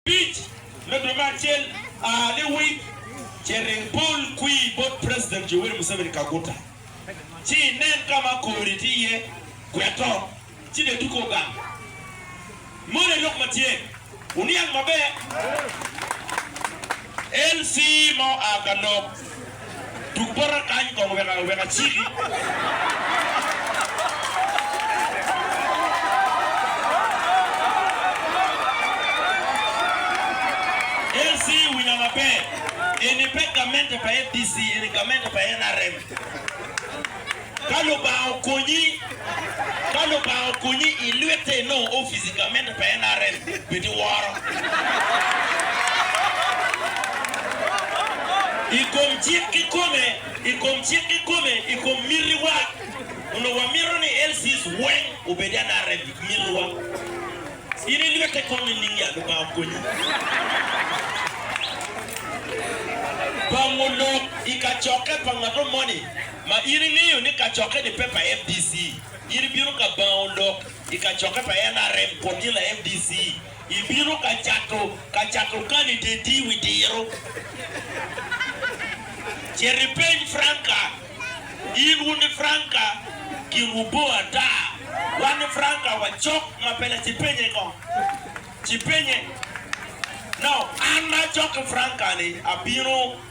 Abic, me dwe me acel, early week, ce ring pol kwir bot President Yoweri Museveni Kaguta, ci inen ka ma kori tye iye, gweto, ci bed tuko gang. Moni en lok ma tye. Wuniang maber. LC. ma oa ka lok. Tuk bota kany kong wek wek aciki. LC winya maber, eni pe gamente pa fdc, eni gamente pa nrm. Ka Lubanga okonyi, Ka Lubanga okonyi ilwite inongo opic i gamente pa NRM, bed iworo. I kom cik kikome, I kom cik kikome, I kom mitiwa, Onongo wamito ni LCs weng obed NRM, I mitiwa. In ilwite kong nining ya? Lubanga okonyi. Pango lok i kacokke pa ngat mo moni. ma in ingeyo ni kacokke-ni pe pa FDC, in ibino ka bango lok i kacokke pa NRM kun in la FDC. Ibino ka cato ka cato kandideti wi diro. Cit ipeny Franca. In wun ni Franca kinwu bor ata. Wan ni Franca wacok ma pe la ci penye kong. Ci penye. Now, an ma acok ki Franca-ni abino.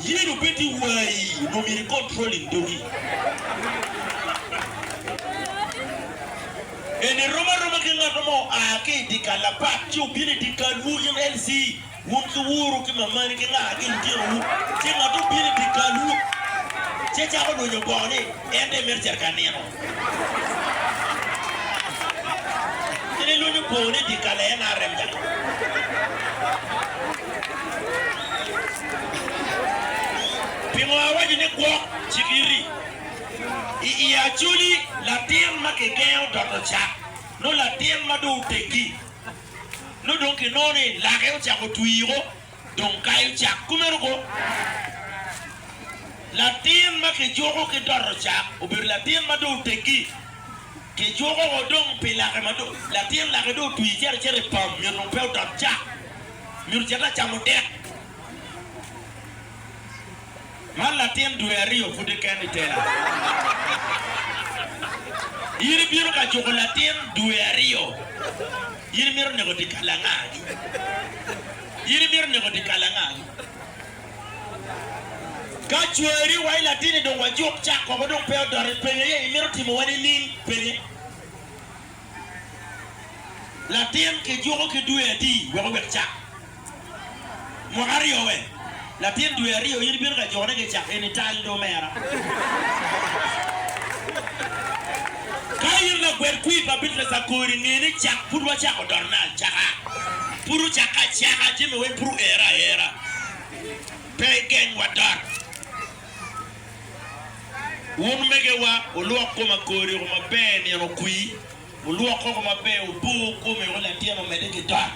Yen obed ni wayi onongo myero ikontrolling dogi. En erom aroma ki ngat mo oa ki i dyekal apat ci obino i dyekalwu in LC, wun ki wuru ki mamani ki nga ki litinowu, ci ngat obino i dyekalwu ci ecako lwonyo bongo ni en dong emito cito ka nino. Kadi lweny opo ni dyekal aye NRM gang. Pingo awaco ni gwok? Cik iti. I i Acholi latin ma kigengo dot ocak nongo latin ma dong oteggi nongo dong kinongo ni lake ocako twii o. Dong kayo cak kumeno go. Latin ma kijuko ki doto cak obedo latin ma dong oteggi. Kijuko wa dong pi lake ma dong latin lake dong otwi cito acita i pam, myero dong pe odot cak, myero cit acamo dek. Man latin dwe aryo pud keken i tela. In ibino ka juko latin dwe aryo? In imito neko dye kal angagi? In imito neko dye kal angagi? Ka cwari wa i latin-ni dong wajuk cak woko dong pe odot i penye aye imito timo wa nining? Penye. Latin kijuko ki dwe adi wek owek cak? Mwaka aryo we? Latin dwe aryo in ibino ka jone ki cak eni tal do omera. Ka in lagwel kwir pa Bitlaca kori nge ni cak pud wacako dotone acaka. Pud ocakke acaka jami weng pud oere aera. Pe igeng wa dot. Wun omegewa wulwok koma kori oko maber nino kwi. Wulwok koko maber, wubur kome wek latin omedde ki dok.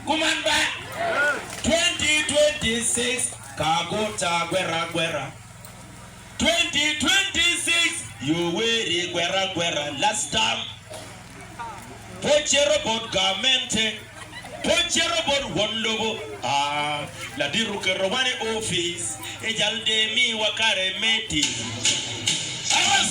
Kuman ba! 2026 ka guta gwera gwera 2026 Yoweri gwera gwera Last term pe ocito bot gamente Pe ocito bot won lobo aa Ladit oketowa ni ofice Ijal dee miwa kare me tic Aras!